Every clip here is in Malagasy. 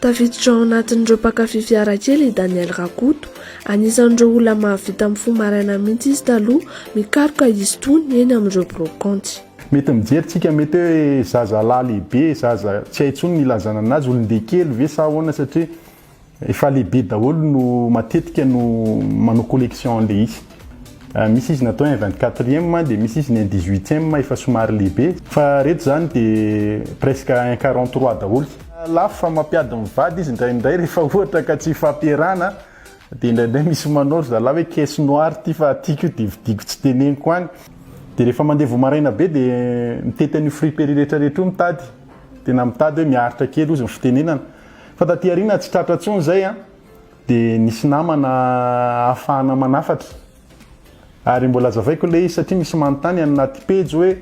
Tafiditra ao anatin'ireo mpankafy fiara kely i Daniel Rakoto. Anisan'ireo olona mahavita mifoha maraina mihitsy izy taloha, mikaroka izy itony eny amin'ireo biraokaonty. Mety mijery tsika mety hoe zazalahy lehibe, zaza tsy hay intsony ny ilazana anazy, olon-deha kely ve sa ahoana satria efa lehibe daholo no matetika no manao collection an'ilay izy. Misy izy natao un vingt quatrième dia misy izy ny un dix huitième efa somary lehibe fa reto zany dia presque un quarante trois daholo. Lafo fa mampiady ny vady izy indraindray rehefa ohatra ka tsy hifampiarahana dia indraindray misy manao ry zalahy hoe caisse noire ity fa tiako io dia vidiko tsy teneniko any dia rehefa mandeha vao maraina be dia mitety an'io friperie rehetra rehetra io mitady tena mitady hoe miaritra kely ozy ny fitenenana fa taty aoriana tsy tratra intsony izay an! Dia nisy namana ahafahana manafatra. Ary mbola azavaiko ilay izy satria misy manontany any anaty pejy hoe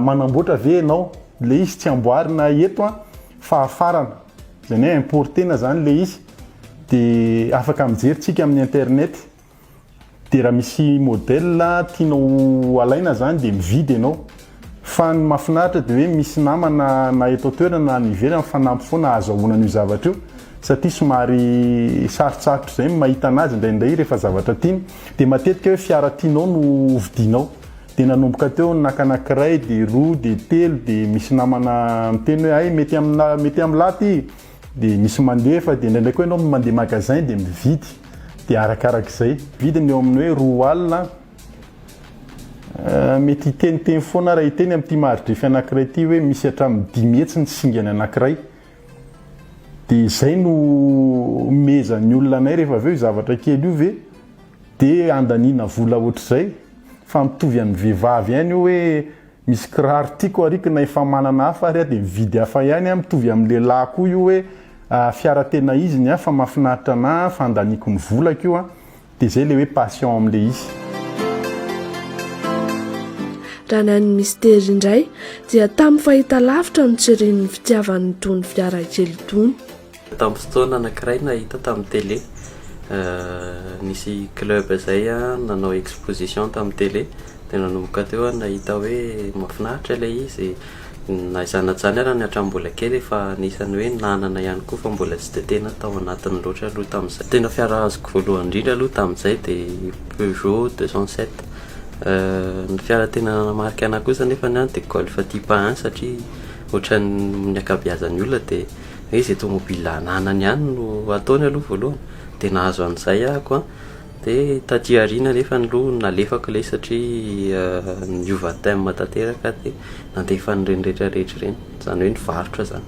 manamboatra ve ianao? Ilay izy tsy amboarina eto an, fahafarana. Izany hoe importer-na izany ilay izy. Dia afaka mijery tsika amin'ny internet. Dia raha misy modèle tianao alaina zany dia mividy ianao. Fa ny mahafinaritra dia hoe misy namana na eto an-toerana na any ivelany fanampy foana ahazahoana an'io zavatra io satria somary sarotsarotra izay ny mahita an'azy indraindray rehefa zavatra tiany. Dia matetika hoe fiara tianao no hovidianao. Dia nanomboka teo naka anankiray dia roa dia telo dia misy namana miteny hoe hay mety aminà mety amin'lah ty. Dia misy mandefa, dia indraindray koa ianao no mandeha magasin dia mividy, dia arakarak'izay. Vidiny eo amin'ny hoe roa alina, mety hiteniteny foana ary hiteny amin'ity maridrefy anankiray ity hoe misy hatramin'ny dimy hetsy ny singany anankiray. Dia izay no omezan'ny olona anay rehefa avy eo io zavatra kely io ve dia handaniana vola ohatr'izay? Fa mitovy amin'ny vehivavy ihany io hoe. Misy kiraro tiako ary ko na efa manana hafa ary aho dia mividy hafa ihany aho, mitovy amin'ny lehilahy koa io hoe fiara tena izy ny ahy fa mahafinaritra anah fa andaniako ny volako io an, dia izay ilay hoe passion amin'ilay izy. Raha ny an'i Mister indray dia tamin'ny fahitalavitra no tsiriany ny fitiavany itony fiara kely itony. Tamin'ny fotoana anankiray nahita tamin'ny télé, nisy club izay nanao exposition tamin'ny télé, dia nanomboka teo aho nahita hoe mahafinaritra ilay izy, na izany na izany ary ny hatramin'ny mbola kely efa anisan'ny hoe nanana ihany koa fa mbola tsy dia tena tao anatiny loatra aloha tamin'izay. Tena fiara azoko voalohany indrindra aloha tamin'izay dia Peugeot deux cent sept, ny fiara tena nanamarika anahy kosa nefany dia Golf Type un satria ohatran'ny ny ankabeazan'ny olona dia. hoe izay tomobil ananany ihany no ataony aloha voalohany dia nahazo an'izay aho ko dia taty aoriana nefa aloha nalefako ilay izy satria niova thème tanteraka aho dia nandefa an'ireny rehetra rehetra ireny izany hoe nivarotra izany